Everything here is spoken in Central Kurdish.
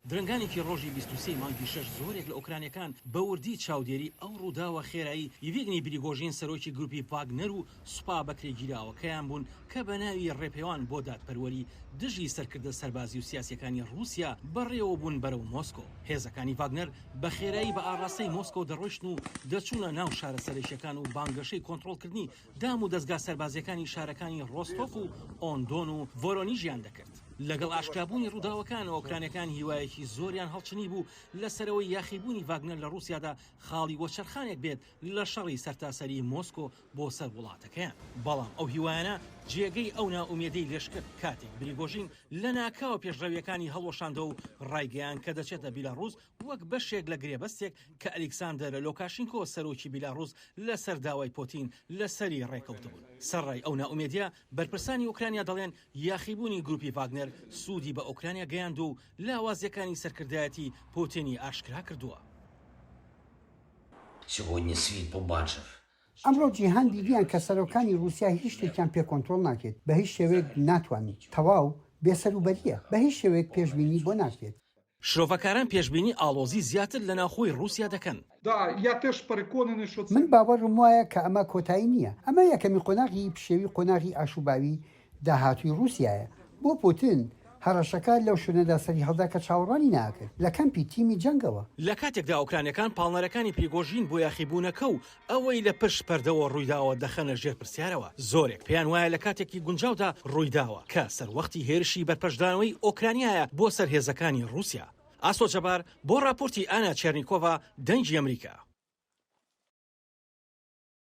درەنگانێکی ڕۆژی بیست و سێی مانگی شەش زۆرێک لە ئۆکرانیەکان بە وردی چاودێری ئەو ڕووداوە خێرای یڤیگنی بریگۆژین سەرۆکی گروپی ڤاگنەر و سوپا بەکرێگیراوەکەیان بوون کە بە ناوی ڕێپێوان بۆ دادپەروەری دژی سەرکردە سەربازی و سیاسیەکانی ڕووسیا بەڕێوە بوون بەرەو مۆسکۆ. هێزەکانی ڤاگنەر بە خێرایی بە ئاڕاستەی مۆسکۆ دەڕۆیشتن و دەچوونە ناو شارە سەرەکیەکان و بانگەشەی کۆنتڕۆڵکردنی دام و دەزگا سەربازییەکانی شارەکانی ڕۆستۆف و ئۆندۆن و ڤۆرۆنیژیان دەکرد. لەگەڵ ئاشکرابوونی ڕووداوەکان، ئۆکرانیەکان هیوایەکی زۆریان هەڵچنیبوو لەسەرەوەی یاخیبوونی ڤاگنەر لە ڕووسیادا خاڵی وەچەرخانێک بێت لە شەڕی سەرتاسەریی مۆسکۆ بۆ سەر وڵاتەکەیان. بەڵام ئەو هیوایانە جێگەی ئەو نائومێدیەی لەشکرد، کاتێک بریگۆژین لەناکاوە پێشڕەوییەکانی هەڵوەشاندەوە و ڕایگەیاند کە دەچێتە بیلاڕووس وەک بەشێک لە گرێبەستێک کە ئەلیکساندەر لۆکاشینکۆ سەرۆکی بیلاڕووس لەسەر داوای پۆتین لەسەری ڕێکەوتبوون. سەرڕای ئەو نائومێدییە، بەرپرسانی ئۆکرانیا دەڵێن یاخیبوونی گروپی ڤاگنەر سوودی بە ئۆکرانیا گەیاندووە و لاوازییەکانی سەرکردایەتی پۆتینی ئاشکرا کردووە. ئەمڕۆ جیهان دیدیان کە سەرۆکانی ڕووسیا هیچ شتێکیان پێ کۆنترۆڵ ناکرێت، بە هیچ شێوەیەک ناتوانن. تەواو بێسەروبەرییە. بە هیچ شێوەیەک پێشبینی بۆ ناکرێت. شرۆڤەکاران پێشبینی ئاڵۆزی زیاتر لە ناوخۆی ڕووسیا دەکەن. من باوەڕم وایە کە ئەمە کۆتایی نییە. ئەمە یەکەمین قۆناغی پشێوی قۆناغی ئاشوباوی داهاتووی ڕووسیایە. بۆ پوتن، هەڕەشەکە لەو شوێنەدا سەریهەڵدا کە چاوەڕوانی ناکرد، لە کەمپی تیمی جەنگەوە. لە کاتێکدا ئۆکرانیەکان پاڵنەرەکانی پریگۆژین بۆ یاخیبوونەکە و ئەوەی لە پشت پەردەوە ڕوویداوە دەخەنە ژێر پرسیارەوە، زۆرێک پێیان وایە لە کاتێکی گونجاودا ڕوویداوە، کە سەروەختی هێرشی بەرپەرچدانەوەی ئۆکرانیایە بۆ سەر هێزەکانی ڕووسیا. ئاسۆ جەبار بۆ ڕاپۆرتی ئانا چێرنیکۆڤا، دەنگی ئەمریکا.